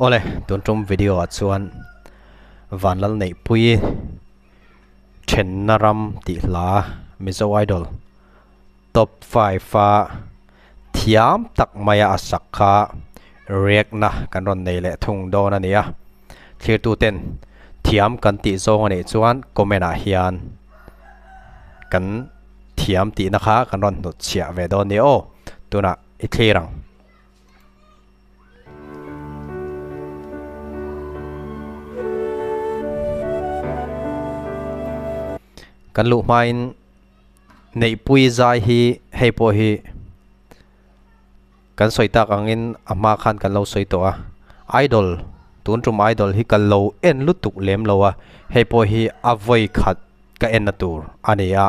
Awle, tun tum video ah chuan Vanlal Neihpuii Thenna Ram tih hla Mizo Idol Top five a thiam tak mai a a sak kha react na kan rawn nei leh thung dawn a nia. Thlirtu ten thiam kan tih zawng a nih chuan comment ah hian kan thiam tihna kha kan rawn hnutchhiah ve dawn nia aw tunah i thlir ang. kan luh hmain neihpui zai hi hei pawh hi kan sawi tak angin a hma khan kan lo sawi tawh a idol tun tum idol hi kan lo en lutuk lem lo a hei pawh hi a vawi khat ka en na tur a ni a.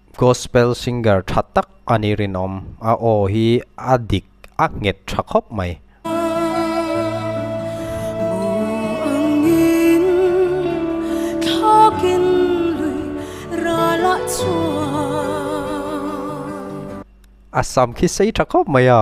Gospel singer tha tak a ni rinawm, a aw hi a dik a nghet tha khawp mai. A sam khi sei tha khawp mai a.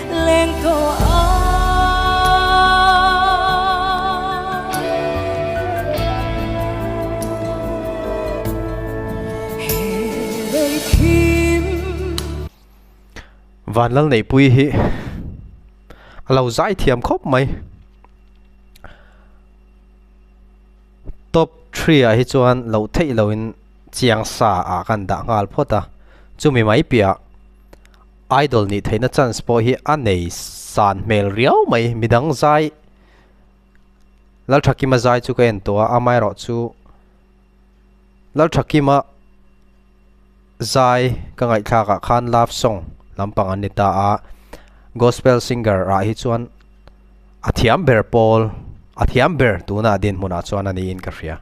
leng tawh a he lei thim vanlal neihpui hi a lo zai thiam khawp mai top three ah hi chuan lo theih lo in chiangsa ah kan dah nghal phawt a chumi mai piah Idol nih theihna chance pawh hi a nei san hmel riau mai. Midang zai Lalthakima zai chu ka en tawh a, amaherawh chu Lalthakima zai ka ngaihthlak ah khan love song lampang an ni ta a. Gospel singer ah hi chuan a thiam ber pawl a thiam ber tuna a din hmun ah chuan a ni in ka hria.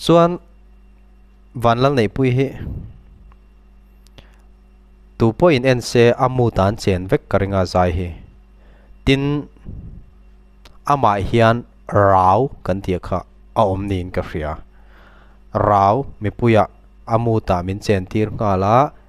Chuan van lal neih pui hi tu pawh in en se a mood ah an chen vek ka ring a zai hi tin amah hian rau kan tih kha a awm niin ka hria rau mipuia a mood ah min chen tir nghal a.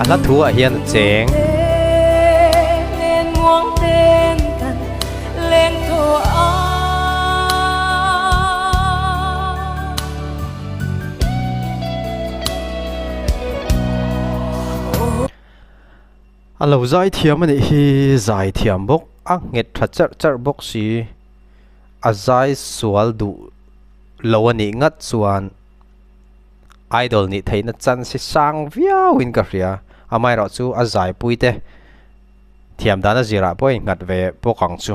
A hla thu ah hian a cheng. A lo zai thiam a nih hi, zai thiam bawk a nghet tha charh charh bawk si. A zai sual duh lo a nih ngat chuan. idol nih theihna chance sang viauin ka hria amaherawh chu a zaipui te thiam dana zirah pawh a inghat ve bawk ang chu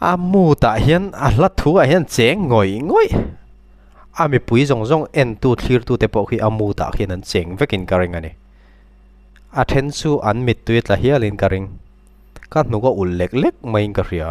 A mood ah hian a hla thu ah hian cheng ngawih ngawih a mipui zawng zawng en tu thlir tu te pawh khi a mood ah khian an cheng vek in ka ring ani a then chu an mit tui tla hial in ka ring ka hnuk a ulh lek lek mai in ka hria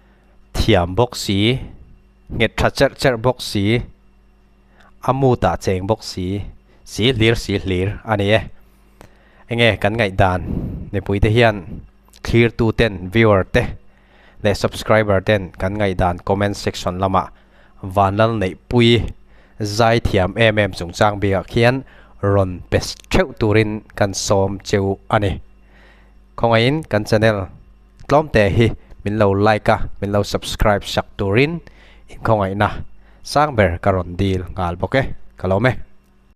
thiam bawk si, nghet tha cherh cherh bawk si, a mood a cheng bawk si, si hlir si hlir a ni e. Enge kan ngaih dan mipui te hian thlir tu ten viewer te leh subscriber ten kan ngaih dan comment section lama vanlal neih pui zai thiam em em chungchang bik ah khian rawn pe theuh turin kan sawm cheu a ni. Khawngaihin kan channel. Tlawmte hi min lo like a, min lo subscribe sak turin inkhawngaihna sang ber ka rawn dil nghal bawk e, ka lawm e.